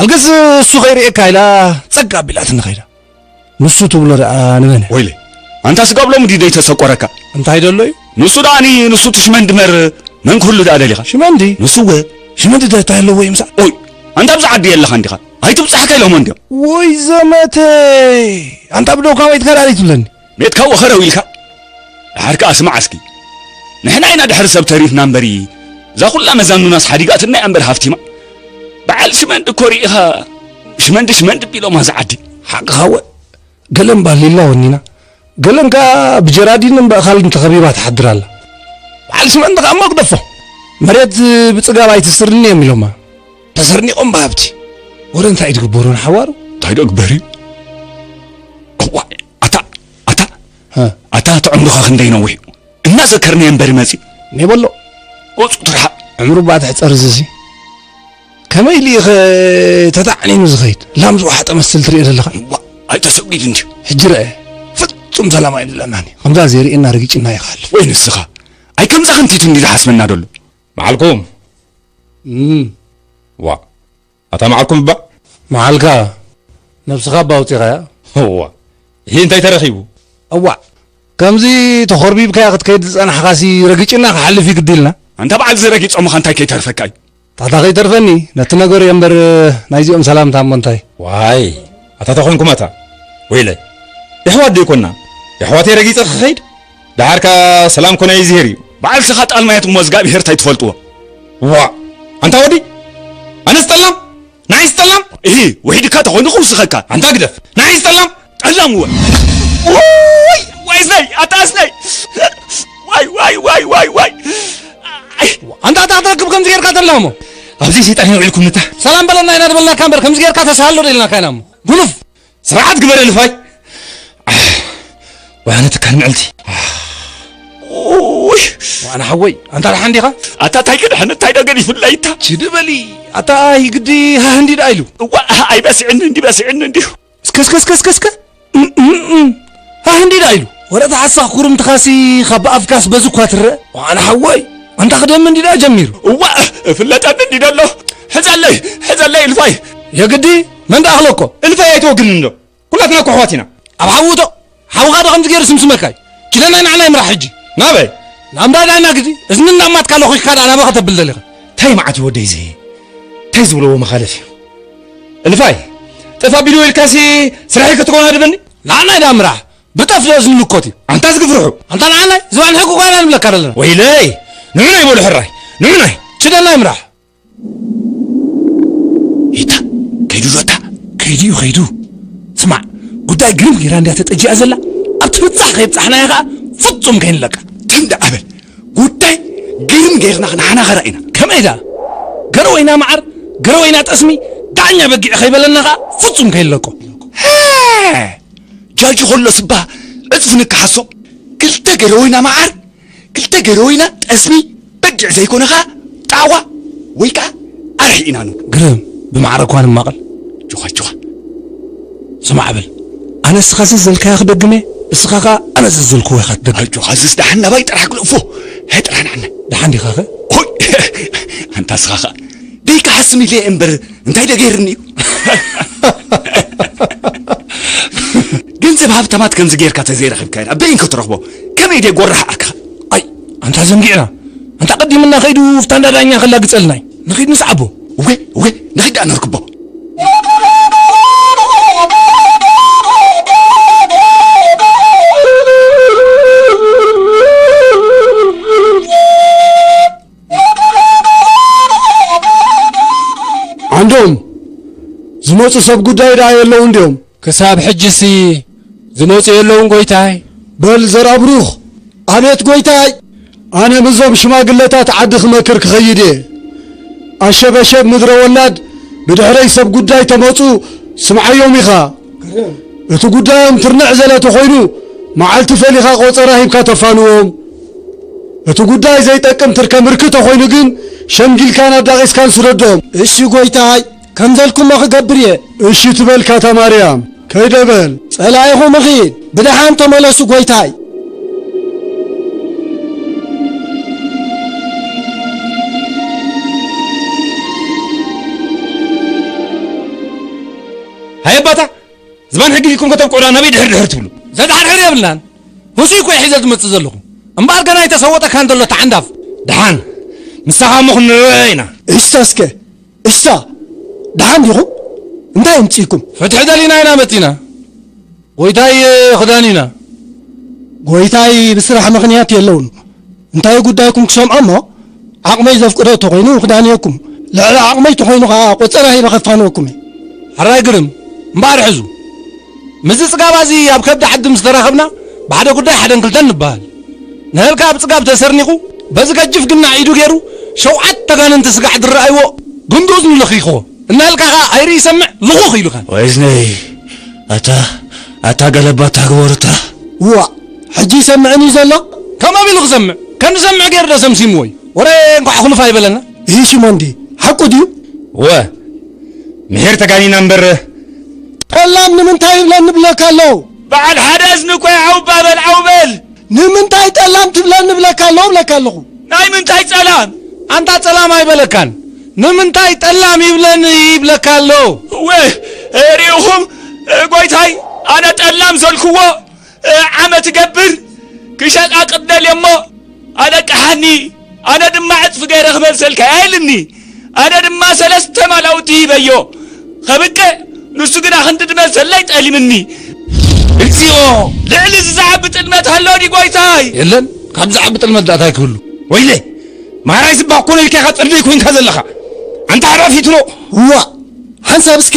ኣልገስ እሱ ከይርእየካ ኢላ ጸግ ኣቢላትኒ ከይዳ ንሱ ትብሎ ደኣ ንመን ወይለይ ኣንታ ስጋብ ሎሚ ድዩ ዘይተሰቆረካ እንታይ ደሎ እዩ ንሱ ደኣኒ ንሱ ትሽመን ድመር መን ክህሉ ደኣ ደሊኻ ሽመንዲ ንሱወ ሽመንዲ ደ እንታይ ኣለዎ እዩ ምሳዕ ኦይ ኣንታ ኣብዚ ዓዲ የለኻን ዲኻ ኣይትብጻሕካ ኢሎሞ እንዲዮም ወይ ዘመተይ ኣንታ ብደውካ ወይትካ ደኣ ዘይትብለኒ ቤትካ ወኸረው ኢልካ ደሓር ከኣ ስማዕ እስኪ ንሕና ኢና ድሕሪ ሰብ ተሪፍና እምበሪ እዛ ኩላ መዛኑናስ ሓዲጋትና እያ እምበር ሃፍቲማ በዓል ሽመንዲ እኮ ርኢኻ ሽመንዲ ሽመንዲ ቢሎማ ዝዓዲ ሓቅኻ ወ ገለን ባሊላ ወኒና ገለን ከኣ ብጀራዲን እምበእኻልን ተኸቢባ ትሓድር ኣላ በዓል ሽመንዲ ከኣ መግደፎ መሬት ብፅጋብ ኣይትስርኒ እዮም ኢሎማ ተሰርኒቖም ብሃብቲ ወረ እንታይ እዩ ትግበሩ ንሓዋሩ እንታይ ዶ ግበር እዩ ኣታ ኣታ ኣታ እቲ ዕምሩኻ ክንደይ ነዊሕ እዩ እናዘከርናዮ እምበሪ መፂእ እኔ በሎ ወፁ ትርሓቕ ዕምሩ እባ ትሕፀር እዚሲ ከመይ ኢሉ ኢኸ ተታዕኒኑ ዝኸይድ ላም ዝወሓጠ መስል ትሪኦ ዘለኻ እዋ ኣይተሰጒድ እንድዩ ሕጂ ረአ ፍፁም ሰላም ኣይንብለናኒ ከምዛ ዘይርእየና ርጊጭና ይኸሃልፍ ወይ ንስኻ ኣይ ከምዛ ክንቲቱ እንዲ ዝሓስበና ደሎ በዓልኩም ዋ ኣታ መዓልኩም እባ። መዓልካ ነብስኻ እባ ኣውጺኻያ። እዋ እሂ እንታይ ተረኺቡ። እዋእ ከምዚ ተኾርቢብካያ ክትከይድ ዝጸናሕኻሲ ረጊጭና ክሓልፍ እዩ ግዲልና። ኣንታ በዓል እዚ ረጊጾምኻ እንታይ ከይተርፈካ እዩ። ታታ ከይተርፈኒ ነቲ ነገር እዮ እምበር ናይዚኦም ሰላምታ እሞ እንታይ። ዋይ ኣታ ተኾይንኩም ኣታ ወይለይ የሕዋት ደይኮና የሕዋተይ ረጊጸ ክኸይድ ደሓር ከኣ ሰላም ኮነ ይዝሄር እዩ። በዓል ስኻ ጣል ማያት እሞ እዝጋብሄር ታይ ትፈልጥዎ። ዋእ ኣንታ ወዲ ኣነስ ጠላም ንዓይስ ጠላም እሂ ውሒድካ ተኾይኑ ክውስኸካ ኣንታ ግደፍ ንዓይስ ጠላም ጠላም እወ ዋይ ዋይ እዝነይ ኣታ እዝነይ ዋይ ዋይ ዋይ ዋይ ዋይ ኣንታ ኣታ ኣታ ክብ ከምዚ ጌርካ ተላሞ ኣብዚ ሰይጣን የውዒልኩም ንታ ሰላም በለና ኢና ዝበልናካ እምበር ከምዚ ጌርካ ተሳሃሎ ደልናካ ኢና እሞ ጉኑፍ ስርዓት ግበር እልፋይ ወያነ ትካል ምዕልቲ ውይ ዋና ሓወይ ኣንታ ደሓን ዲኻ ኣታ እንታይ ክድሕን እንታይ ደገን ይፍላይ እታ ችድ በሊ ኣታ ኣይ ግዲ ሃህ እንዲ ደኣ ኢሉ እዋ ኣይበስዕኒ እንዲ በስዕኒ እንዲሁ እስከ እስከ እስከ እስከ እስከ እም፣ እም፣ እም። ሃህ እንዲ ደኣ ኢሉ ወረታ ሓሳኽ ኩርምትኻሲ ካብ ብኣፍካስ በዚ እኳ ትረአ ዋና ሓወይ ኣንታ ክደሚ እንዲ ደኣ ጀሚሩ እዋ እፍለጠኒ እንዲ ደሎ ሕዘለይ ሕዘለይ እልፋይ የግዲ መን ደኣ ክለኮ እልፋይ ኣይትወግንን እንዶ ኩላትና እኮ ኣሕዋት ኢና ኣብ ሓዊ ውደቕ ሓውኻ ዶ ከምዚ ገይሩ ስምስመካ እዩ ኪደ ናይ ንዓና ይምራሕ ሕጂ ናበይ ናብ እንዳ ዳይና ግዲ እዝኒ እናማትካ ለኺኽካ ደኣ ናበይ ከተብል ደሊኻ እንታይ መዓት እዩ ወደይ እዚ እንታይ ዝብለዎ መኻለፍ እዩ እልፋይ ጥፍ ኣቢልዎ ኢልካሲ ስራሒ ክትኮን ኣድበኒ ንዓናይ ደኣ ምራሕ ብጠፍ ዶ እዝኒ ምኮት እዩ ኣንታ ዝግፍርሑ ኣንታ ንዓናይ ዝባን ሕጊ ጓና ንብለካ ደለና ወይለይ ንዑናይ በሉ ሕራይ ንዑናይ ችደናይ ምራሕ ይታ ከይዱ ዶ እታ ከይዱ እዩ ከይዱ ስማዕ ጉዳይ ግርም ጌራ እንድያ ተጠጂኣ ዘላ ኣብ ትብጻሕ ከይብጻሕናያ ከኣ ፍጹም ከይንለቃ ተንዳዕ በል ጉዳይ ግርም ጌርና ክንሓናኸራ ኢና ከመይ ደኣ ገረወይና መዓር ገረወይና ጠስሚ ዳኛ በጊዕ ከይበለና ከኣ ፍጹም ከይንለቆ ጃጂ ከሎ ስባ ዕጽፊ ንከሓሶ ክልተ ገረወይና መዓር ክልተ ገረወ ኢና ጠስሚ በጊዕ ዘይኮነ ኸኣ ጣዋ ወይ ከኣ ኣርሒ ኢና ንብሎ። ግርም ብማዕረ እኳ ንማቐል። ጆኻ ጆኻ ስማዕ በል ኣነ እስኻ ዘዘልካዮ ክደግም እየ እስኻ ከኣ ኣነ ዘዘልክዎ ኢኻ ትደግም። ኣጆኻ እዝስ ደሓን ናባይ ጥራሕ ግልእፎ ጥራሕ ንዓና። ደሓን ዲኻኸ? ሆይ ኣንታ እስኻ ኸኣ ደይክሓስም ኢለ እየ እምበር እንታይ ደገይርኒ እዩ ገንዘብ ሃብታማት ከምዚ ጌርካ ተዘይረኺብካ ኢና በይን ክትረኽቦ ከመይ ደ ጎራሕ ኣካ ኣይ ኣንታ ዘንጊዕና ኣንታ ቀዲምና ከይዱ ፍታ እንዳዳኛ ከላግጸልና እዩ ንኺድ ንስዓቦ እወ እወ ንኺድ ደኣ ነርክቦ ዓንዶም ዝመጹ ሰብ ጉዳይ ደኣ የለውን ድዮም? ክሳብ ሕጅሲ ዝመጹ የለውን ጎይታይ። በል ዘርኣብሩኽ፣ ኣቤት ጎይታይ! ኣነ ምስዞም ሽማግለታት ዓዲ ክመክር ክኸይድ እየ። ኣሸበሸብ ምድረ ወላድ ብድሕረይ ሰብ ጉዳይ ተመጹ ስምዓዮም ኢኻ። እቲ ጉዳዮም ትርንዕ ዘለ ተኾይኑ መዓልቲ ፈሊኻ ቆጸራ ሂብካ ተፋንዎም። እቲ ጉዳይ ዘይጠቅም ትርከ ምርክ ተኾይኑ ግን ሸምጊልካን ኣዳቂስካን ስደዶም። እሺ ጎይታይ ከምዘልኩሞ ክገብር እየ። እሺ ትበልካ እታ ማርያም ከይደ በል። ጸላኢኹም እኺድ ብደሓን ተመለሱ ጎይታይ። ሃየ ኣባታ! ዝባን ሕጊ ዲኩም ከተብቅዑና ናበይ ድሕር ድሕር ትብሉ ዘድሓርሕር የብልናን ህሱይ ኮይ ሒዘ ዝመፅእ ዘለኹ እምበኣር ገና ኣይተሰወጠካን ዘሎ ተዓንዳፍ ድሓን ምሳኻ እሞ ክንረአ ኢና እሳ እስከ እሳ ድሓን ዲኹም እንታይ የምፅእኩም ፍትሒ ደሊና ኢና መፂና ጎይታይ ክዳን ኢና ጎይታይ ብስራሕ ምኽንያት የለውን እንታዩ ጉዳይኩም ክሰምዖ እሞ ዓቕመይ ዘፍቅዶ ተኾይኑ ክዳንየኩም ልዕሊ ዓቕመይ ተኾይኑ ከኣ ቆጸራ ሂበ ከፋንወኩም እየ። ሕራይ ግርም! እምበኣር ሕዙ ምስዚ ጽጋብ ኣዚ ኣብ ከብዲ ዓዲ ምስ ተራኸብና ብሓደ ጉዳይ ሓደን ክልተን ንበሃል። ንሀልካ ኣብ ጽጋብ ተሰርኒቑ በዚ ገጅፍ ግናዕ ኢዱ ገይሩ ሸውዓት ተጋንንቲ ስጋዕ ድረኣይዎ ጉንዲ እዝኑ ለኺኽዎ እንሀልካ ከኣ ኣይርኢ ሰምዕ ልኹኽ ኢሉካ። ወይዝነይ ኣታ ኣታ ገለባታ ግበሩታ። ዋእ! ሕጂ ይሰምዕን እዩ ዘሎ ከም ኣቢሉ ክሰምዕ ከም ዝሰምዕ ገይሩ ዶ ሰምሲምዎ እዩ ወረ እንኳዕ ኣኹልፍ ኣይበለና። እሂ ሽሞን ድዪ ሓቁ ድዩ? እወ ምሒር ተጋኒና እምበር ጠላም ንምንታይ ይብለኒ ይብለካ ኣሎ። በዓል ሓደ እዝኒ እኮ እዩ ዓው እባ በል ዓው በል። ንምንታይ ጠላም ትብለኒ ይብለካ ኣሎ እብለካ ኣለኹ። ናይ ምንታይ ጸላም? ኣንታ ጸላም ኣይበለካን ንምንታይ ጠላም ይብለኒ ይብለካ ኣሎ። እወ ሪኢኹም ጎይታይ ኣነ ጠላም ዘልኩዎ ዓመት ገብር ክሸጣ ቅደል እሞ ኣለቅሓኒ ኣነ ድማ ዕፅፊ ገይረ ክመልሰልካ እያ ኢልኒ ኣነ ድማ ሰለስተ ማላውቲ ሂበዮ ከብቅዕ ንሱ ግና ክንዲ ድመልሰለይ ጠሊምኒ እግዚኦ ልዕሊ እዚ ዝዓቢ ጥልመት ኣሎ ዲ ጎይታይ የለን ካብ ዝዓቢ ጥልመት ዳታ ይክህሉ ወይለ ማራይ ዝባ ኮነ ኢልካ ኢኻ ጥልመይ ኮይንካ ዘለኻ ኣንታ ሓራፊትኖ እዋ ሓንሳብ እስከ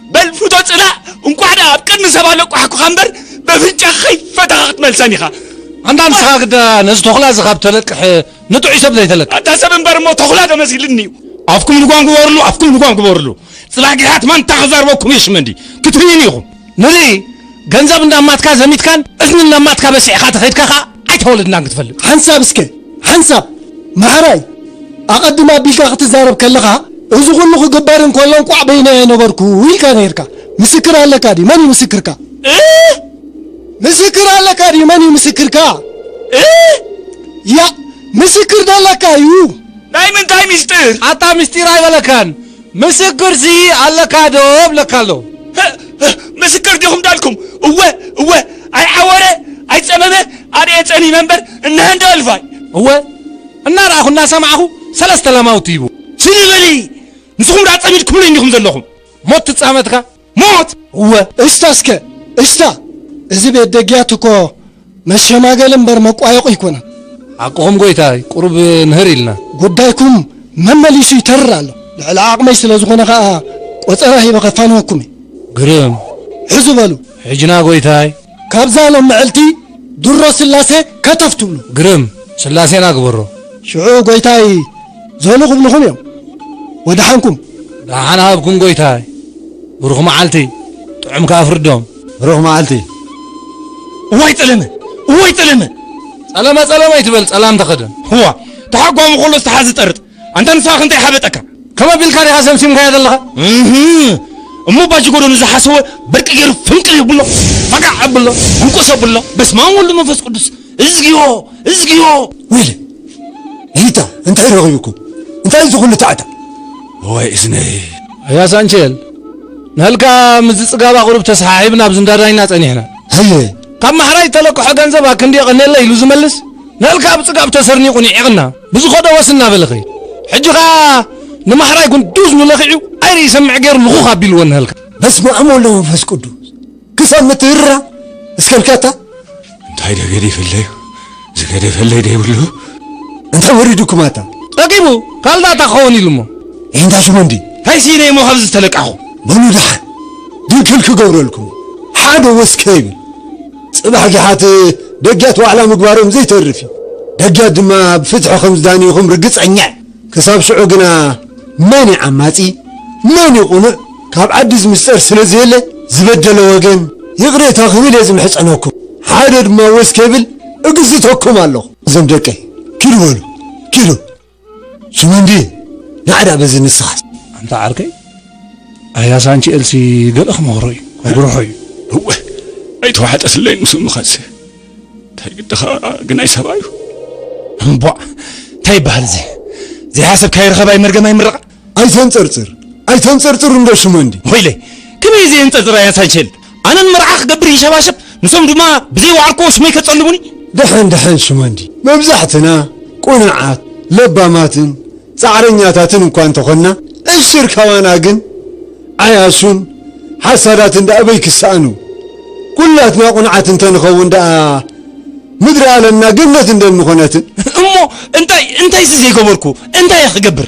በል ፍቶ ጽላእ እንቋዕ ደኣ ኣብ ቅድሚ ሰብ ኣለቋሕኩኻ እምበር በፍንጫ ከይፈታኻ ክትመልሰን ኢኻ ኣንታ ንስኻ ግዳ ነዚ ተኹላ እዚ ካብ ተለቅሕ ንጥዑይ ሰብ ዘይተለቅሕ ኣታ ሰብ እምበር እሞ ተኹላ ተመሲልኒ እዩ ኣፍኩም ልጓም ግበርሉ ኣፍኩም ልጓም ግበርሉ ጽላጊሓት ማንታ ክዛርበኩም የሽመንዲ ክትርእዩን ኢኹም ንርኢ ገንዘብ እንዳማትካ ዘሚትካን እዝኒ እንዳማትካ በሲዕካ ተኸድካ ኸኣ ኣይተወለድናን ክትፈልጥ ሓንሳብ እስከ ሓንሳብ ማሕራይ ኣቐድም ኣቢልካ ክትዛረብ ከለኻ እዚ ኩሉ ክግበር እንከሎ እንቋዕ በይነይ ኣይነበርኩ ኢልካ ነይርካ ምስክር ኣለካ ድዩ መን እዩ ምስክርካ ምስክር ኣለካ ድዩ መን እዩ ምስክርካ ያ ምስክር ደለካ እዩ ናይ ምንታይ ምስጢር ኣታ ምስጢር ኣይበለካን ምስክር ሲ ኣለካ ዶ እብለካ ኣለኩ። ህእ ምስክር ዲኹም ዳልኩም እወ እወ ኣይዓወረ ኣይጸመመ ኣርእየ ጸሚመ እምበር እነሀ እንዶ እልፋይ። እወ እናረኣኹ እናሰማዕኹ ሰለስተ ላማውቲ ሂቡ። ስኒ በሊ ንስኹም ድኣ ጸሚድኩምለይ እንዲኹም ዘለኹም። ሞት ትጻመትካ። ሞት እወ እስታ እስከ እስታ እዚ ቤት ደጊያት እኮ መሸማገሊ እምበር መቋየቑ ኣይኮነን። ሓቅኹም ጎይታይ ቁሩብ ምህር ኢልና። ጉዳይኩም መመሊሱ ይተርር ኣሎ። ልዕሊ ዓቕመይ ስለ ዝኾነ ከኣ ቆጸራ ሂበ ከፋንወኩም እየ። ግርም! ሕዙ በሉ። ሕጅና ጎይታይ! ካብዛ ሎም ምዕልቲ ድሮ ስላሴ ከተፍ ትብሉ። ግርም! ስላሴና ግበሮ። ሽዑ ጎይታይ ዘሉ ክብልኹም እዮም። ወደሓንኩም። ደሓን ሃብኩም ጎይታይ። ብሩኽ መዓልቲ። ጥዑም ከኣ ፍርዶም። ብሩኽ መዓልቲ። እዋይ ጸለመ! እዋይ ጸለመ! ጸለመ ጸለመ ኣይትበል ጸላም ተኸደን። እዋ ተሓጓሙ ከሎ ዝተሓዝ ዝጠርጥ። ኣንታ ንስኻ ከ እንታይ ሓበጠካ? ከምኡ ኣቢልካ ዲኻ ሰምሲምካዮ ዘለኻ? እህ! እሞ ባጅጎዶ ንዝሓሰወ በርቂ ገይሩ ፍንቅል የብሎ፣ ፋጋዕ ኣብሎ፣ ሕንቁስ ኣብሎ፣ በስማም ወልድ መንፈስ ቅዱስ፣ እዝግዮ! እዝግዮ! ዊሊ! ጊታ እንታይ ረኺቡኩም? እንታይ እዚ ኩሉ ታዕታዕ? እዋይ እዝነይ! ኣያ ሳንቼል፣ ንሀልካ ምስዚ ጽጋባ ቁሩብ ተሰሓሒብና ኣብዚ እንዳ ዳይና ጸኒሕና። ሃየ! ካብ ማሕራይ እተለቅሖ ገንዘብ ኣክንዲ የቐኔለይ ኢሉ ዝመልስ፣ ንሀልካ ብጽጋብ ተሰርኒቑ ኒዒቕና። ብዝኸዶ ወስ እናበለ ኸይዱ። ሕጂ ኸኣ ንማሕራይ ጉንዱዝ ንለኺዑ ኣይርኢ ይሰምዕ ገይሩ ልኹኽ ኣቢልዎ እነሀልካ። በስመ ኣብ ወወልድ ወመንፈስ ቅዱስ ክሳብ ምትህርራ እስከ እንከታ እንታይ ደገዲፈለዩ ዝገደፈለይ ደይብሉ እንታይ ወሪዱኩም ኣታ ጠቂሙ ካልዳታ ክኸውን ኢሉ እሞ እንታ ሽመንዲ እንታይ ስኢነ እሞ ካብዚ ዝተለቃኹ በሉ ደሓን ድንክል ክገብረልኩም ሓደ ወስ ከይብል ጽባሕ ጊሓት ደግያት ዋዕላ ምግባሮም ዘይተርፍ እዩ። ደግያት ድማ ብፍትሒ ከም ዝዳንዩኹም ርግጸኛ እየ። ክሳብ ሽዑ ግና መን እዩ ዓማጺ መን እዩ ቁኑዕ ካብ ዓዲ ዝምስጠር ስለ ዘየለ ዝበደለ ወገን ይቕሬታ ክብል እየ ዝምሕጸነኩም። ሓደ ድማ ወስ ከይብል እግዝተኩም ኣለኹ። እዞም ደቀይ ኪዱ በሉ ኪዱ። ሽመንዲ ናዕዳ በዚ ንስኻስ ኣንታ ዓርከይ ኣያ ሳንቺኤል ሲ ገለ ክመኽሮ እዩ ክጉርሖ እዩ እወ ኣይተዋሕጠትለይ ምስ ምኸንሲ እንታይ ግድኻ ግናይ ሰብኣዩ እምቧእ እንታይ ይበሃል እዚ ዘይሓሰብካ ይረኸብ ኣይመርገም ኣይምረቓ ኣይተንጸርጽር ኣይተንጸርጽር እንዶ ሽመንዲ። ሆይለ ከመይ ዘየንጸርጽር ኣያ ሳንሸል ኣነ ንመርዓ ክገብር ይሸባሸብ ንሶም ድማ ብዘይ ዋዕርኮ ሽመይ ከጸልሙኒ። ደሐን ደሐን ሽመንዲ መብዛሕትና ቁኑዓት ለባማትን ጻዕረኛታትን እኳ እንተኾንና ዕሽር ካባና ግን ዓያሹን ሓሳዳትን ደኣ በይ ክሰኣኑ ኩላትና ቁንዓት እንተንኸውን ደኣ ምድሪ ኣለምና ገነት እንደምኾነትን እሞ እንታይ እንታይሲ ዘይገበርኩ እንታይ ክገብር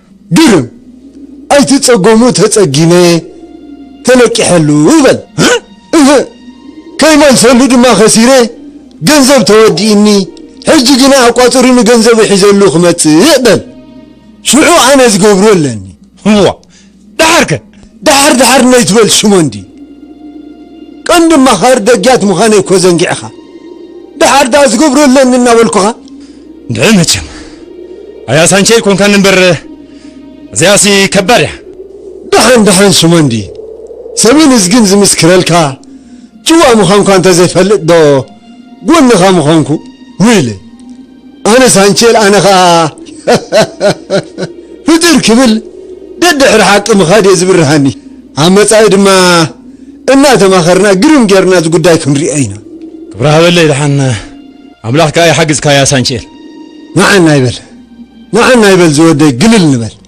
ግርም! ኣይትጸጎሙ ተጸጊመ ተለቂሐሉ በል። እህ! ከይመልሰሉ ድማ ከሲረ ገንዘብ ተወዲኢኒ ሕጂ ግና ኣቋጽሪኒ ገንዘቡ ሒዘሉ ክመጽእ በል። ሽዑ ኣነ ዝገብሮ ኣለኒ። እሞ ደሓርከ? ደሓር ደሓር ነይትበል ሽሞንዲ ቀንዲ ኣማኻሪ ደጊያት ምዃነይ እኮ ዘንጊዕኻ ደሓር ደኣ ዝገብሮ ኣለኒ እናበልኩኻ ድዒ መቸም ኣያ ሳንቸይ ኮንካን እምበር እዚኣሲ ከባድ እያ ደሓን ደሓን ሽሞንዲ ሰብን እዝግን ዝምስክረልካ ጭዋ ምዃንኳ እንተዘይፈልጥ ዶ ጎንኻ ምዃንኩ ውይለ ኣነ ሳንቼል ኣነ ከኣ ፍጥር ክብል ደድሕሪ ሓቂ ምኻድ እየ ዝብርሃኒ ኣብ መጻኢ ድማ እናተማኸርና ግርም ጌርና እዚ ጉዳይ ክንሪኦ ኢና ክብራ ሃበለይ ደሓን ኣምላኽ ከኣ ይሓግዝካያ ሳንቼል ንዓና ይበል ንዓና ይበል ዝወደይ ግልል ንበል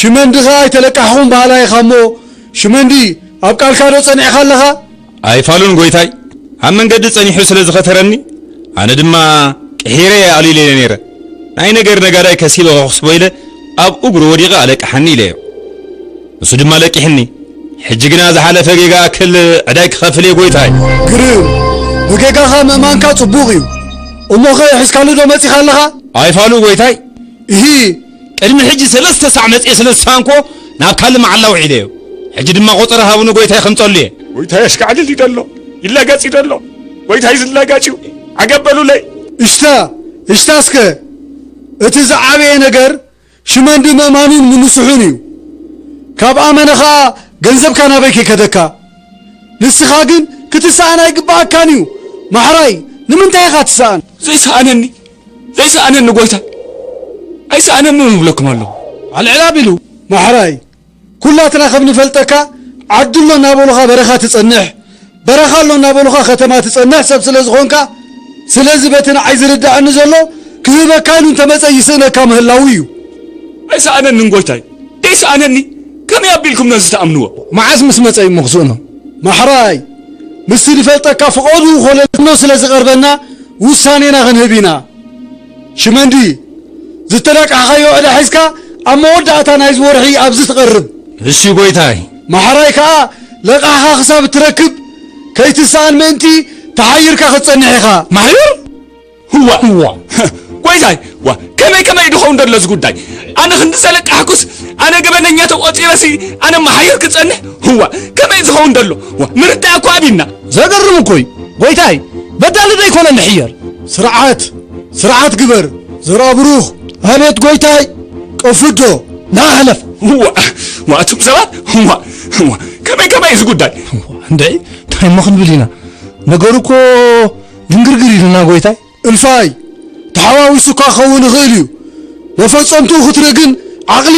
ሽመንዲ ከኣ ኣይተለቃሕኹም በሃላይ ኢኻ እሞ ሽመንዲ ኣብ ቃልካ ዶ ጸኒዕካ ኣለኻ? ኣይፋሉን ጎይታይ ኣብ መንገዲ ጸኒሑ ስለ ዝኸተረኒ ኣነ ድማ ቅሒረ እየ ኣልይለዮ ነይረ ናይ ነገር ነጋዳይ ከሲበ ከኹስቦ ኢለ ኣብ እግሩ ወዲቐ ኣለቅሓኒ ኢለዮ ንሱ ድማ ለቂሕኒ ሕጂ ግና ዝሓለፈ ጌጋ ኣክል ዕዳይ ክኸፍል እየ ጎይታይ። ግርም ንጌጋኻ ምእማንካ ጽቡቕ እዩ እሞኸ ሒዝካሉ ዶ መጺኻ ኣለኻ? ኣይፋሉ ጎይታይ። እሂ! ቅድሚ ሕጂ ሰለስተ ሳዕ መጽየ ስለ ዝሰኣንክዎ ናብ ካልእ መዓላ ውዒለዮ። ሕጂ ድማ ቆጸራ ሃቡ ንጎይታይ ከምጸሉ እየ። ጎይታይ ኣሽካዕልል እዩ ደሎ ይላጋጽ እዩ ደሎ ጎይታይ ዝላጋጭ እዩ ዓገብ በሉለይ። እሽታ እሽታ እስከ እቲ ዝዓበየ ነገር ሽመንዲ ምእማኑን ምንስሑን እዩ ካብ ኣመነ ከኣ ገንዘብካ ናበይ ከይከደካ ንስካ ግን ክትሰኣን ኣይግበኣካን እዩ ማሕራይ ንምንታይ ኢካ ትሰኣን ዘይሰኣነኒ ዘይሰኣነኒ ጐይታ ኣይሰኣነንን እብለኩም ኣለኹ። ኣልዕል ኣቢሉ። ማሕራይ ኩላትና ከም ንፈልጠካ ዓዲ ኣሎ እናበሉኻ በረኻ ትጸንሕ፣ በረኻ ኣሎ እናበሉኻ ከተማ ትጸንሕ ሰብ ስለ ዝኾንካ፣ ስለዚ በቲ ንዓይ ዝርድኣኒ ዘሎ ክህበካ ኢሉ እንተመጸ ይስእነካ ምህላዉ እዩ። ኣይሰኣነንን ጐይታይ ደይሰኣነኒ ከመይ ኣቢልኩም ነዚ ትኣምንዎ? መዓስ ምስ መጸ እዩ'ሞ ክስእኖ ማሕራይ? ምስቲ ንፈልጠካ ፍቐድኡ ኮለኖ ስለ ዝቐርበና ውሳኔና ክንህብ ኢና። ሽመንዲ፣ ዝተላቃሕካዮ ዕዳ ሒዝካ ኣብ መወዳእታ ናይዚ ወርሒ ኣብዚ ትቐርብ። እሺ ጎይታይ። ማሕራይ ከኣ ለቃሕኻ ክሳብ እትረክብ ከይትሰኣን ምእንቲ ተሓይርካ ክትጸንሕ ኢኻ። ማሕዩር? ህዋ ህዋ ጎይታይ ዋ ከመይ ከመይ ድኸውን ደሎ እዚ ጉዳይ ኣነ ክንዲ ዘለቃሕኩስ ኣነ ገበነኛ ተቆፂረሲ ኣነ መሓይር ክፀንሕ ህዋ ከመይ ዝኸውን ደሎ ዋ ምርዳእ እኮ ኣብና ዘገርም እኮ እዩ ጎይታይ በዳሊ ዶ ይኮነ ንሕየር ስርዓት ስርዓት ግበር ዘራብሩኽ ኣቤት ጎይታይ ቀፍዶ ናሕለፍ ህዋ ዋ እቱም ሰባት ህዋ ህዋ ከመይ ከመይ እዚ ጉዳይ እንደ እንታይ እሞ ክንብል ኢና ነገሩ እኮ ድንግርግር ኢሉና ጎይታይ። እልፋይ ተሓዋዊሱካ ክኸውን ይኽእል እዩ፣ መፈጸምትኡ ክትርኢ ግን ዓቕሊ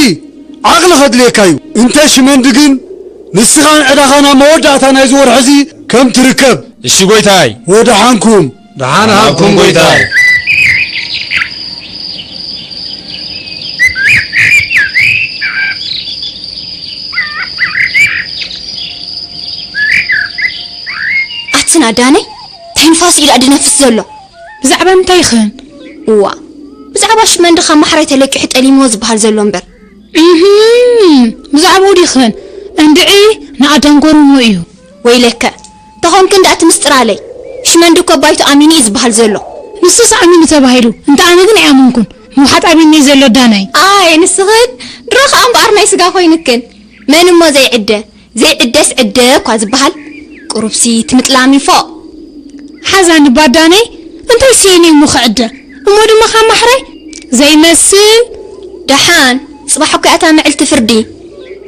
ዓቕሊ ከድልየካ እዩ። እንተ ሽመንዲ ግን ንስኻን ዕዳኻን ኣብ መወዳእታ ናይዚ ወርሒ'ዚ ከም ትርከብ። እሺ ጎይታይ። ወደሓንኩም። ደሓን ሃብኩም ጎይታይ። ኣትና ዳነይ ተንፋስ ኢላ ድነፍስ ዘሎ። ብዛዕባ እንታይ ይኽን? እዋ ብዛዕባ ሽመንዲ ካብ ማሕራይ ተለቂሑ ጠሊምዎ ዝበሃል ዘሎ እምበር። እህም ብዛዕባኡ ዲኽን? እንድዒ ንኣዳም ጎርምዎ እዩ። ወይለከ ተኾንክ እንድኣ እቲ ምስጢር ኣለይ። ሽመንዲ እኮ ባይቶ ኣሚኑ እዩ ዝበሃል ዘሎ። ንሱስ ኣሚኑ ተባሂሉ እንተ ኣነ ግን ኣይኣመንኩን። ምውሓጥ ኣቢኒ እዩ ዘሎ ዳናይ። ኣየ ንስኽን ድሮ ከኣ እምበኣር ናይ ስጋ ኮይንክን። መን እሞ ዘይዕደ። ዘይዕደስ ዕደ እኳ ዝበሃል ቁሩብሲ ትምጥላም እዩ ፎእ። ሓዛኒ ባዳነይ እንታይ ስኢኑ እዩ እሞ ክዕደ እሞ ድማ ካብ ማሕራይ ዘይመስል። ደሓን ጽባሕ እኮ'ያ እታ ምዕልቲ ፍርዲ።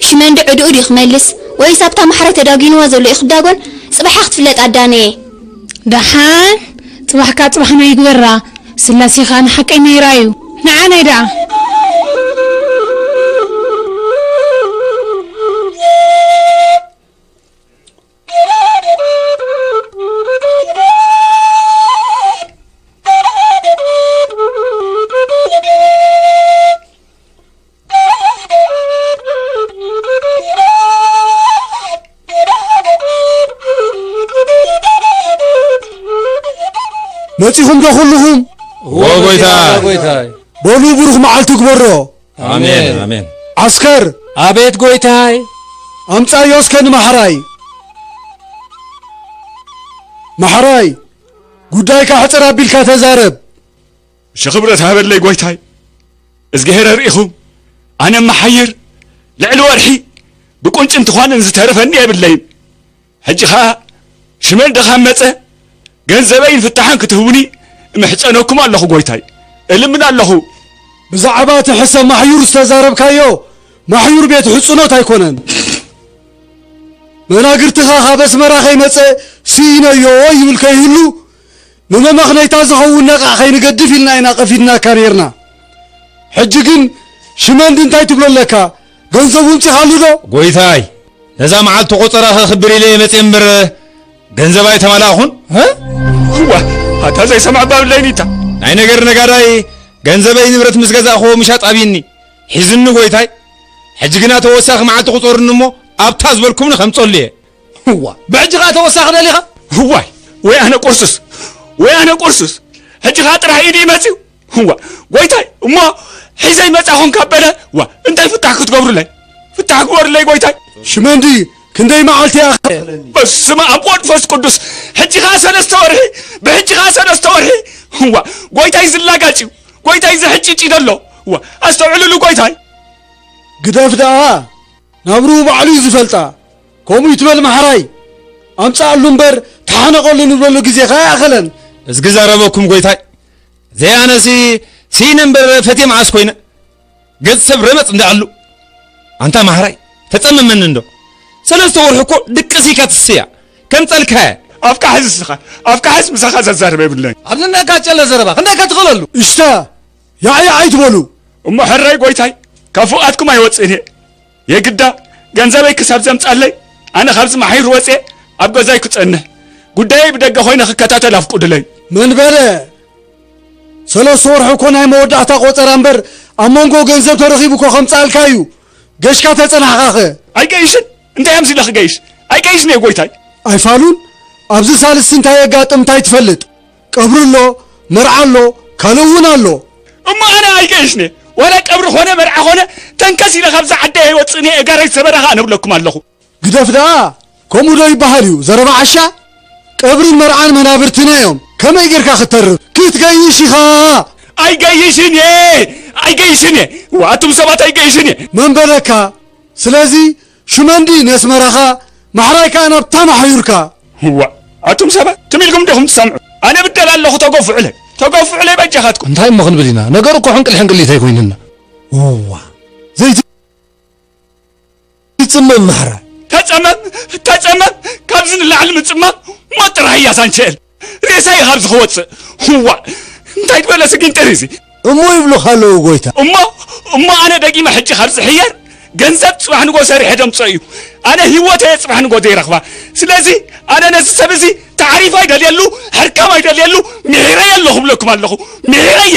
ሽመንዲ ዕድኡ ድዩ ክመልስ ወይስ ኣብታ ማሕራይ ተዳጒንዋ ዘሎ እዩ ክዳጎን ጽባሕ'ያ ክትፍለጥ ኣዳነየ። ደሓን ጽባሕካ ጽባሕና ይግበራ ስላሴ ከኣ ንሓቀኛ ይርኣዩ ንዓናይ ደኣ። መጺኹም ዶ ኩሉኹም እዎ ጎይታይ በሉ ብሩኽ መዓልቲ ግበሮ ኣሜን ኣሜን ዓስከር ኣቤት ጎይታይ ኣምጻዮ እስከ ንማሕራይ ማሕራይ ጉዳይካ ሕጽር ኣቢልካ ተዛረብ ሽኽብረት ሃበለይ ጎይታይ እዝግሄር ኣርእኹም ኣነ መሓይር ልዕሊ ወርሒ ብቁንጭንቲ ኳንን ዝተረፈኒ የብለይን ሕጂ ከዓ ሽመል ደኻን መፀ ገንዘበይን ፍታሓን ክትህቡኒ እምሕፀነኩም ኣለኹ ጎይታይ እልምን ኣለኹ ብዛዕባ እቲ ሕሰ ማሕዩር ዝተዛረብካዮ ማሕዩር ቤት ሕፅኖት ኣይኮነን መናግርትኻ ካብ ኣስመራ ከይመፀ ስኢነዮ ይብል ከይህሉ ንመመኽነይታ ዝኸውን ነቓዕ ከይንገድፍ ኢልና ኢና ቀፊድናካ ኔርና። ሕጂ ግን ሽመንዲ እንታይ ትብሎ ኣለካ? ገንዘቡ እምጺኻሉ ዶ? ጎይታይ ነዛ መዓልቲ ቆጸራ ከክብር ኢለ እየ መጽየ እምበር ገንዘብ ኣይተመላእኹን። እዋ ኣታ ዘይሰምዐ ባብ ለይኒታ። ናይ ነገር ነጋዳይ ገንዘበይ ንብረት ምስ ገዛእክዎ ምሻጥ ኣብይኒ ሒዙኒ ጎይታይ። ሕጂ ግና ተወሳኺ መዓልቲ ቁጸሩኒ እሞ ኣብታ ዝበልኩምኒ ከምጸሉ እየ። እዋ ብሕጂ ከኣ ተወሳኺ ደሊኻ? እዋይ ወይ ኣነ ቁርሱስ ወይ ኣነ ቁርሱስ ሕጂ ከኣ ጥራሕ ኢድይ መጺኡ እዋ ጎይታይ እሞ ሒዘይ መጻ ኮንካ በለ ዋ እንታይ ፍታሕ ክትገብሩለይ ፍታሕ ግበሩለይ ጎይታይ ሽመንዲ ክንደይ መዓልቲ እያ በስመ ኣብ ወልድ ፈስ ቅዱስ ሕጂ ከኣ ሰለስተ ወርሒ ብሕጂ ከኣ ሰለስተ ወርሒ እዋ ጎይታይ ዝላጋጭ እዩ ጎይታይ ዝሕጭጭ እዩ ዘሎ እዋ ኣስተውዕልሉ ጎይታይ ግደፍ ደኣ ናብርኡ ባዕሉ እዩ ዝፈልጣ ከምኡ እዩ ትበል መሓራይ ኣምጻኣሉ እምበር ተሓነቀሉ ንብለሉ ግዜ ከኣ ኣይኣኸለን። እዝጊ ዘረበኩም ጎይታይ ዘያነሲ ሲነ እምበር ፈቴ መዓስ ኮይነ ገጽ ሰብ ረመጽ እንዳኣሉ ኣንታ ማሕራይ ተጸምመኒ እንዶ ሰለስተ ወርሒ እኮ ድቅስ ኢካ ትስያ ከም ጸልካየ ኣብካ ሕዚ ስኻ ኣብካ ሕዚ ምሳኻ ዘዛርበ የብለይ ኣብ ነናካ ጨለ ዘረባ ክንደይ ከትኸለሉ እሽታ ያዕያዕ ኣይትበሉ እሞ ሕራይ ጎይታይ ካብ ፍቓድኩም ኣይወጽእን እየ የግዳ ገንዘበይ ክሳብ ዘምጻለይ ኣነ ካብዚ ማሕዩር ወጼ ኣብ ገዛይ ክጸንሕ ጉዳየይ ብደገ ኮይነ ክከታተል ኣፍቁድለይ። መን በለ? ሰለስተ ወርሒ እኮ ናይ መወዳእታ ቆጸራ እምበር ኣብ መንጎ ገንዘብ ተረኺቡ እኮ ከምጽኣልካ እዩ። ገሽካ ተጸናሕካ ከ? ኣይገይሽን እንታይ እዮም ሲለ ክገይሽ ኣይገይሽን እየ ጎይታይ። ኣይፋሉን ኣብዚ ሳልስቲ እንታይ የጋጥም እንታይ ትፈልጥ? ቀብሪ ኣሎ መርዓ ኣሎ ካልእ እውን ኣሎ። እሞ ኣነ ኣይገየሽነ ዋላ ቀብሪ ኮነ መርዓ ኮነ ተንከስ ኢለ ካብዛ ዓደይ ኣይወጽእን እየ እጋረይ ሰበራ ከኣ ነብለኩም ኣለኹ። ግደፍ ደኣ ከምኡ ዶ ይበሃል እዩ ዘረባ ዓሻ ቀብርን መርዓን መናብርትና እዮም ከመይ ጌርካ ክተርፍ ክትገይሽ ኢኻ ኣይገይሽን እየ ኣይገይሽን እየ ዋቱም ሰባት ኣይገይሽን እየ መን በለካ ስለዚ ሽመንዲ ነስመራኻ ማሕራይ ከኣ ናብ ታማ ሓዩርካ። ዋእ ኣቱም ሰባት ትም ኢልኩም ዲኹም ትሰምዑ ኣነ ብደል ኣለኹ ተገፍዑለይ ተገፍዑለይ በጃኻትኩም። እንታይ እሞ ክንብል ኢና ነገሩ እኮ ሕንቅል ሕንቅሊት ኣይኮይንና። እዋ ዘይቲ ይጽመም ማሕራ ተጸመም ተጸመም ካብዚ ንላዕሊ ምጽማም ሞት ጥራሕ እያ ዛንቸኤል። ሬሳ እዩ ካብዚ ክወፅእ እዋ እንታይ ትበለ ስጊንጥር እዚ እሞ ይብሉኻ ኣለዉ ጎይታ እሞ እሞ ኣነ ደጊመ ሕጂ ካብ ዝሕየር ገንዘብ ፅባሕ ንጎ ሰሪሐ ደምፆ እዩ ኣነ ሂወተ እየ ፅባሕ ንጎ ዘይረኽባ ስለዚ ኣነ ነዚ ሰብ እዚ ታዕሪፍ ኣይደልየሉ ሕርካም ኣይደልየሉ ምሒረየ ኣሎ ክብለኩም ኣለኹ ምሒረየ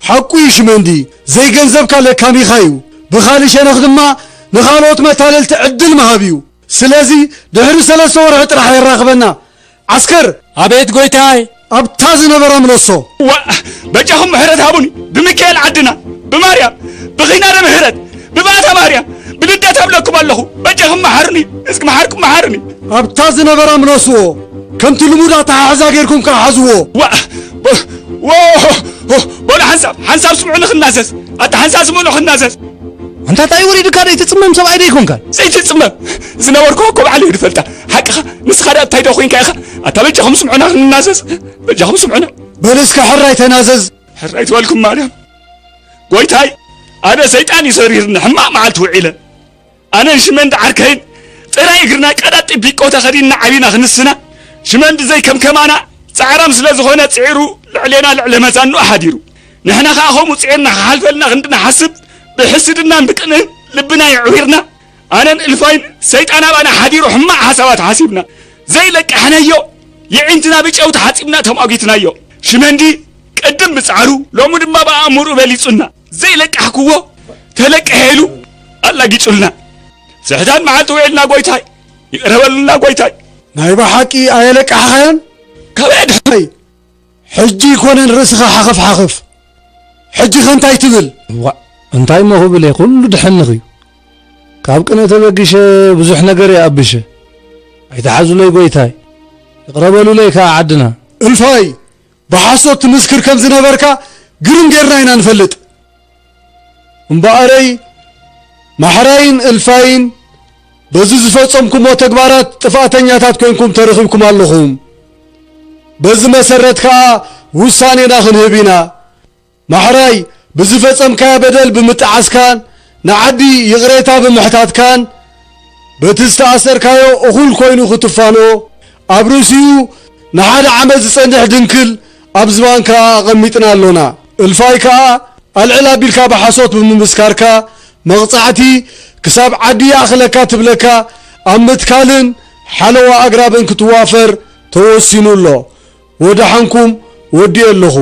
ሓቁ እዩ ሽመንዲ ዘይገንዘብካ ለካሚካ እዩ ብካሊ ሸነክ ድማ ንካልኦት መታለልቲ ዕድል ምሃብ እዩ ስለዚ ድሕሪ ሰለስተ ወርሒ ጥራሕ የራክበና ዓስከር ኣቤት ጎይታይ። ኣብታ ዝነበራ ምለሶ። ዋእ በጃኹም ምሕረት ሃቡኒ ብምካኤል ዓድና ብማርያም ብኺናነ ምህረት ብባእታ ማርያም ብልደት ኣብለኩም ኣለኹ በጃኹም መሓሩኒ እስኪ መሓርኩም መሓሩኒ ኣብታ ዝነበራ ምለስዎ ከምቲ ልሙድ ኣተሓሕዛ ጌርኩም ከኣ ሓዝዎ። ዋእ በሉ ሓንሳብ ሓንሳብ ስምዑኒ ክናዘዝ ኣታ ሓንሳብ ስምዑኒ ክናዘዝ ኣንታ እንታይ ወሪድካ ደይ ትጽመም ሰብኣይ ደይ ኮንካ ዘይትጽመም ዝነበርኩ እኮ በዓል እዩ ዝፈልጣ ሓቅኻ ንስኻ ደኣ እንታይ ዶ ኮንካ ኢኻ ኣታ በጃኹም ስምዑና ክንናዘዝ በጃኹም ስምዑና በል እስከ ሕራይ ተናዘዝ ሕራይ ትበልኩም ማርያም ጎይታይ ኣነ ሰይጣን ይሰሪርኒ ሕማቕ መዓልቲ ውዒለ ኣነን ሽመንዲ ዓርከይን ጥራይ እግርና ቀዳጢ ቢቆ ተኸዲንና ዓቢና ክንስና፣ ሽመንዲ ዘይከምከማና ጻዕራም ስለ ዝኾነ ጽዒሩ ልዕሌና ልዕለ መዛንኡ ሓዲሩ። ንሕና ከኣ ከምኡ ጽዒርና ክሓልፈልና ክንዲ ንሓስብ ብሕስድናን ብቅንእን ልብና የዕዊርና ኣነን እልፋይን ሰይጣን ኣባና ሓዲሩ ሕማቕ ሓሳባት ሓሲብና ዘይለቅሕነዮ የዒንትና ብጨው ተሓጺብና ተሟጊትናዮ። ሽመንዲ ቅድም ብጻዕሩ ሎሚ ድማ ብኣእምርኡ በሊጹና። ዘይለቃሕክዎ ተለቅሐ ኢሉ ኣላጊጹልና ስሕታን መዓልቲ ውዒልና ጎይታይ ይቕረ በሉልና ጎይታይ ናይ ብሓቂ ኣየለቃሕኻዮን ካብ ኣድሕይ ሕጂ ይኮነን ርእስኻ ሓኽፍ ሓኽፍ ሕጂኸ እንታይ ትብል ዋእ እንታይ እሞ ክብል እየ ኩሉ ድሕንኽ እዩ ካብ ቅነ ተበጊሸ ብዙሕ ነገር እየ ኣብሸ ኣይተሓዙለይ ጎይታይ ይቕረበሉለይ ከዓ ዓድና እልፋይ ብሓሶት ትምስክር ከም ዝነበርካ ግርም ጌርና ኢና ንፈልጥ እምበኣረይ ማሕራይን እልፋይን በዚ ዝፈጸምኩሞ ተግባራት ጥፍኣተኛታት ኮንኩም ተረኺብኩም ኣለኹም በዚ መሰረት ከኣ ውሳኔና ክንህብ ኢና ማሕራይ ብዝፈጸምካዮ በደል ብምጥዓስካን ንዓዲ ይቕሬታ ብምሕታትካን በቲ ዝተኣሰርካዮ እኹል ኮይኑ ክትፋኖ ኣብ ርእሲኡ ንሓደ ዓመት ዝጸንሕ ድንክል ኣብ ዝባንካ ኣቐሚጥና ኣሎና እልፋይ ከኣ ኣልዕል ኣቢልካ ብሓሶት ብምምስካርካ መቕጻዕቲ ክሳብ ዓዲ ይኣኽለካ ትብለካ ኣብ ምትካልን ሓለዋ ኣግራብን ክትዋፈር ተወሲኑ ኣሎ ወደሓንኩም ወዲኤ ኣለኹ።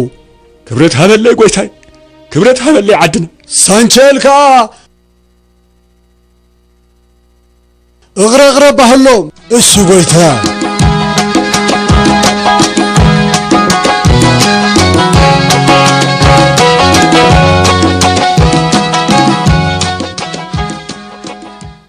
ክብረት ሃበለይ ጎይታይ ክብረት ሃበለይ ዓድና ሳንቸል ከዓ እግረግረ ባህሎም እሱ ጎይታ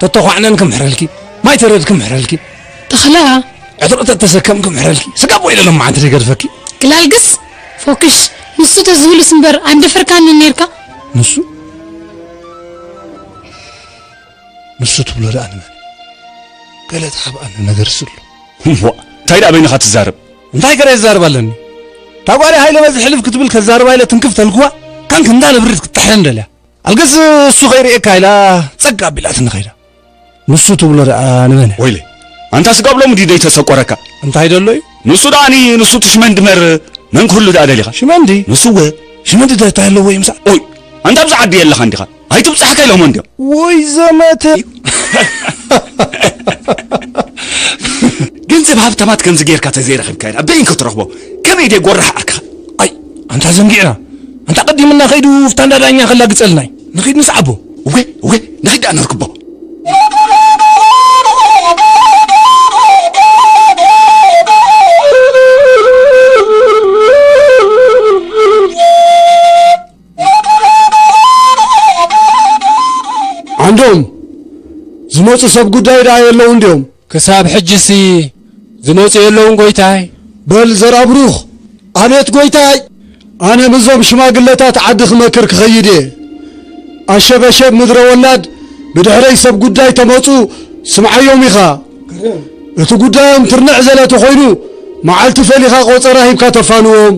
ተተዃዕነን ክምሕረልኪ ማይ ተረድ ክምሕረልኪ ተኽላ ዕጥቂ ተተሰከም ክምሕረልኪ ስጋ ቦይ ኢለ ሎማዓንቲ ዘይገድፈኪ ግላልግስ ፎክሽ ንሱ ተዝብልስ እምበር ኣይምደፈርካንን ነይርካ ንሱ ንሱ ትብሎ ደኣ ንመን ገለ ተሓብኣኒ ነገር ስሉ እሞ እንታይ ደኣ በይንኻ ትዛረብ እንታይ ገረ ይዛረብ ኣለኒ እታ ጓለይ ሃይለ በዚ ሕልፍ ክትብል ከዛርባ ኢለ ትንክፍ ተልክዋ ካን ክንዳ ንብሪት ክትጥሕለን ደልያ ኣልክስ እሱ ከይርእየካ ኢላ ጸግ ኣቢላትኒ ከይዳ ንሱ ትብሎ ደኣ ንመን ወይለይ ኣንታ ስጋብ ሎሚ ድዩ ዘይተሰቆረካ እንታይ ደሎ እዩ ንሱ ደኣኒ ንሱ ትሽመን ድመር መን ክህሉ ደኣ ደሊኻ ሽመንዲ ንሱወ ሽመንዲ ዶ እንታይ ኣለዎ እዩ ምሳ ኦይ ኣንታ ኣብዚ ዓዲ የለኻ እንዲኻ ኣይትብጻሕካ ኢሎሞ እንዲዮም ወይ ዘመተ ገንዘብ ሃብታማት ከምዚ ጌርካ ተዘይረኺብካ ኢና በይን ክትረኽቦ ከመይ ድየ ጎራሕ ኣርካ ኣይ ኣንታ ዘንጊዕና ኣንታ ኣቐዲምና ከይዱ እፍታ እንዳ ዳኛ ከላግጸልና እዩ ንኺድ ንስዓቦ እወ እወ ንኺድ ደኣ ነርክቦ ዓንዶም ዝመፁ ሰብ ጉዳይ ደኣ የለውን ድዮም ክሳብ ሕጂሲ ዝመጹ የለውን ጎይታይ? በል ዘርኣብሩኽ፣ ኣቤት ጎይታይ! ኣነ ምዞም ሽማግለታት ዓዲ ክመክር ክኸይድ እየ። ኣሸበሸብ ምድረ ወላድ ብድሕረይ ሰብ ጉዳይ ተመጹ ስምዓዮም ኢኻ። እቲ ጉዳዮም ትርንዕ ዘለ ተኾይኑ መዓልቲ ፈሊኻ ቆጸራ ሂብካ ተፋንዎም።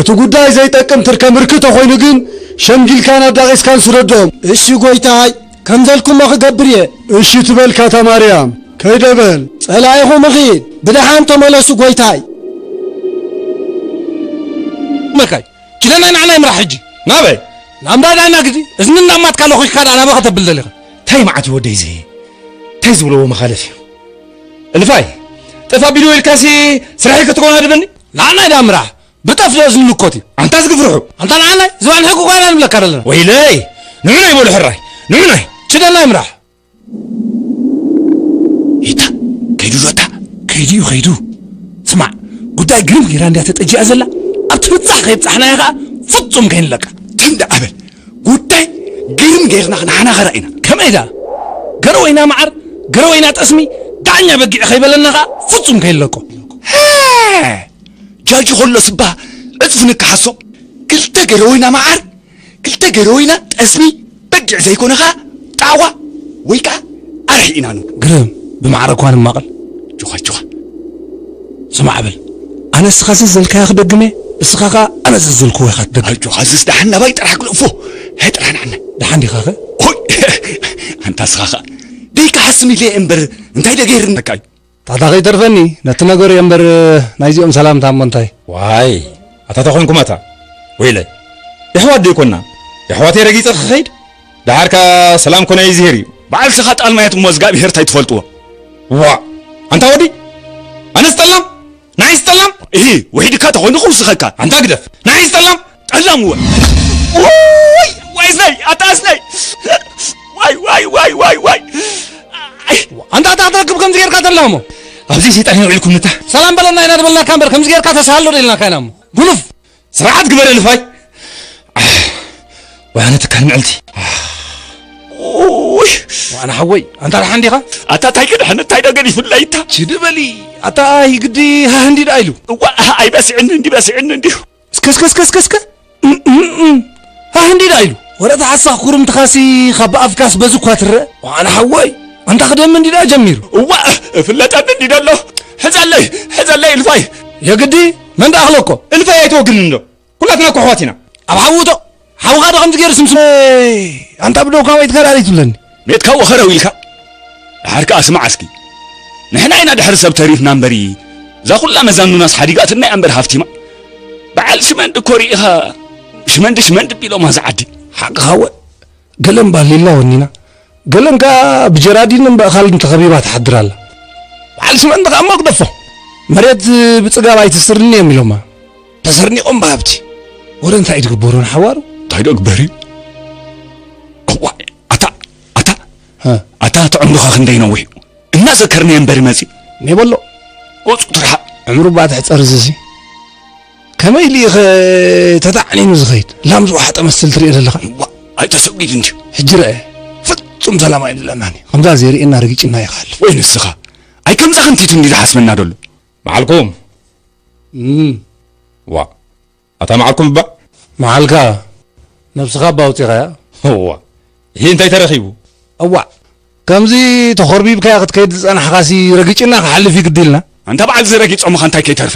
እቲ ጉዳይ ዘይጠቅም ትርከ ምርኪ ተኾይኑ ግን ሸምጊልካን ኣዳቒስካን ስደዶም። እሺ ጎይታይ! ከምዘልኩሞ ክገብር እየ። እሺ ትበልካ እታ ማርያም ከይደ በል። ጸላኢኹም እኺድ ብደሓን ተመለሱ ጎይታይ። መካይ ኪለና ንዓና ይምራሕ ሕጂ ናበይ ናብ እንዳ ዳና ግዲ እዝኒ እንዳማትካ ለኺኽካ ደኣ ናበይ ከተብል ደሊኻ ታይ መዓት እዩ ወደይ እዚ ታይ ዝብለዎ መኻለፍ እዩ እልፋይ ጠፋ ቢሉ ኢልካሲ ስራሕይ ክትኮና ድበኒ ንዓናይ ደኣ ምራሕ ብጠፍኦ ዝንኮት እዩ ኣንታ ዝግፍርሑ ኣንታ ንዓናይ ዝባን ሕጊ ጓና ንብለካ ዘለና ወይለይ ንዑናይ በሉ ሕራይ ንዑናይ ችደናይ ምራሕ ይታ ከይዱ ሎታ ከይዱ እዩ ከይዱ ስማዕ ጉዳይ ግርም ጌራ እንድያ ተጠጂኣ ዘላ ኣብቲ ፍፃሕ ከይብፃሕናያ ከዓ ፍፁም ከይንለቃ ትንዲ ኣበል ጉዳይ ግርም ጌርና ክንሓናኸራ ኢና ከመይ ደኣ ገረወይና መዓር ገረወይና ጠስሚ ዳኛ በጊዕ ከይበለና ከዓ ፍፁም ከይንለቆ ጃጂ ኾሎ ስባ ዕጽፊ ንካሓሶ ክልተ ገረወይና ማዓር ክልተ ገረወይና ጠስሚ በጊዕ ዘይኮነ ካኣ ጣዕዋ ወይ ካኣ ኣርሒ ኢና ን ግርም ብማዕረ እኳ ንማቐል። ጆኻ ጆኻ ስማዕ በል ኣነ እስኻ ዘዘልካዮ ክደግም እየ እስኻ ካኣ ኣነ ዘዘልክዎ ኢኻ ትደግም። ኣይ ጆኻ እዝስ ዳሓን ናባይ ጥራሕ ክልእፎ ሃይ ጥራሕ ናዓና። ዳሓን ዲኻ ከ? ሆይ ኣንታ እስኻ ካኣ ደይካሓስም ኢለ እየ እምበር እንታይ ዶ ገይርነካ እዩ ታታ ከይተርፈኒ ነቲ ነገሩ እየ እምበር ናይዚኦም ሰላምታ እሞ እንታይ። ዋይ ኣታ ተኾንኩም ኣታ ወይለይ የሕዋት ዶ ኣይኮናን የሕዋተይ ረጊጸ ክኸይድ ደሓር ከኣ ሰላም ኮነ ይዝሄር እዩ ባዕልትኻ ጣልማየት እሞ እዝጋብሄር ታይ ትፈልጥዎ ዋእ ኣንታ ወዲ ኣነስ ጠላም ንዓይስ ጠላም እሂ ውሒድካ ተኾይኑ ክውስኸካ ኣንታ ግደፍ ንዓይስ ጠላም ጠላም እወ ዋይ ዋይ እዝነይ ኣታ እዝነይ ዋይ ዋይ ዋይ ዋይ ዋይ ኣንታ ኣታ ኣትረክብ ከምዚ ጌርካ ተላሞ ኣብዚ ሰይጣን የውዒልኩም ንታ ሰላም በለና ኢና ዝበልናካ እምበር ከምዚ ጌርካ ተሳሃሎ ደልናካ ኢና እሞ ጉኑፍ ስርዓት ግበረ ልፋይ ወያነ ትካል ምዕልቲ ውይ ዋና ሓወይ ኣንታ ደሓን ዲኻ ኣታ ታይ ክድሕን እንታይ ደገን ይፍላይ እታ ችድ በሊ ኣታ ኣይ ግዲ ሃህ እንዲ ደኣ ኢሉ እዋ ኣይበስዕን እንዲ በስዕን እንዲሁ እስከ እስከ እስከ እስከ እስከ ሃህ እንዲዳ ኢሉ ወረታ ሓሳኽ ኩርምትኻሲ ካብ ብኣፍካስ በዚ እኳ ትረእ ዋዓላ ሓወይ ኣንታ ክደሚ እንዲዳ ጀሚሩ እዋእ እፍለጠኒ እንዲዶ ኣሎ ሕዘለይ ሕዘለይ እልፋይ የግዲ መን ደኣ ክለኮ እልፋይ ኣይትወግንን እንዶ ኩላትና እኮ ኣሕዋት ኢና ኣብ ሓውቶ ሓውኻ ዶ ከምዚ ገይሩ ስምስም ኣንታ ብደውካ ወይ ትከራሪት ብለኒ ሜትካ ወኸረው ኢልካ ደሓር ከኣ ስማዕ እስኪ ንሕና ኢና ድሕሪ ሰብ ተሪፍና እምበሪ እዛ ኩላ መዛኑናስ ሓዲጋትና እያ እምበር ሃፍቲማ በዓል ሽመንዲ እኮ ርኢኻ ሽመንዲ ሽመንዲ ቢሎማ እዛ ዓዲ ሓቅኻ ወ ገለን ባሊላ ወኒና ገለን ከኣ ብጀራዲን እምበእኻልን ተኸቢባ ትሓድር ኣላ በዓል ሽመንዲ ከኣ መግደፎ መሬት ብፅጋብ ኣይትስርኒ እዮም ኢሎማ ተሰርኒቖም ብሃብቲ ወረ እንታይ እዩ ትግበሩ ንሓዋሩ እንታይ ዶ ግበር እዩ ኣታ ኣታ ኣታ እቲ ዕምሩኻ ክንደይ ነዊሕ እዩ እናዘከርናዮ እምበሪ መፂእ እኔ በሎ ወፁ ትርሓቕ ዕምሩ እባ ትሕፀር እዚሲ ከመይ ኢሉ ኢኸ ተታዕኒኑ ዝኸይድ ላም ዝወሓጠ መስል ትሪኦ ዘለኻ ዋ ኣይተሰጒድ እንድዩ ሕጂ ረአ ፍጹም ሰላም ኣይብለናን እዩ ከምዛ ዘይርእየና ርግጭና ይኸልፍ ወይ ንስኻ ኣይ ከምዛ ክንቲቱ እንዲ ዝሓስበና ደሎ በዓልኩም ዋ ኣታ መዓልኩም እባ መዓልካ ነብስካ እባ ኣውጺካያ እዋ እሂ እንታይ ተረኪቡ። እዋእ ከምዚ ተኾርቢብካያ ክትከይድ ዝጸናሕካሲ ረጊጭና ክሓልፍ እዩ ግዲ ኢልና። ኣንታ በዓል እዚ ረጊጾምኻ እንታይ ከይተርፈ።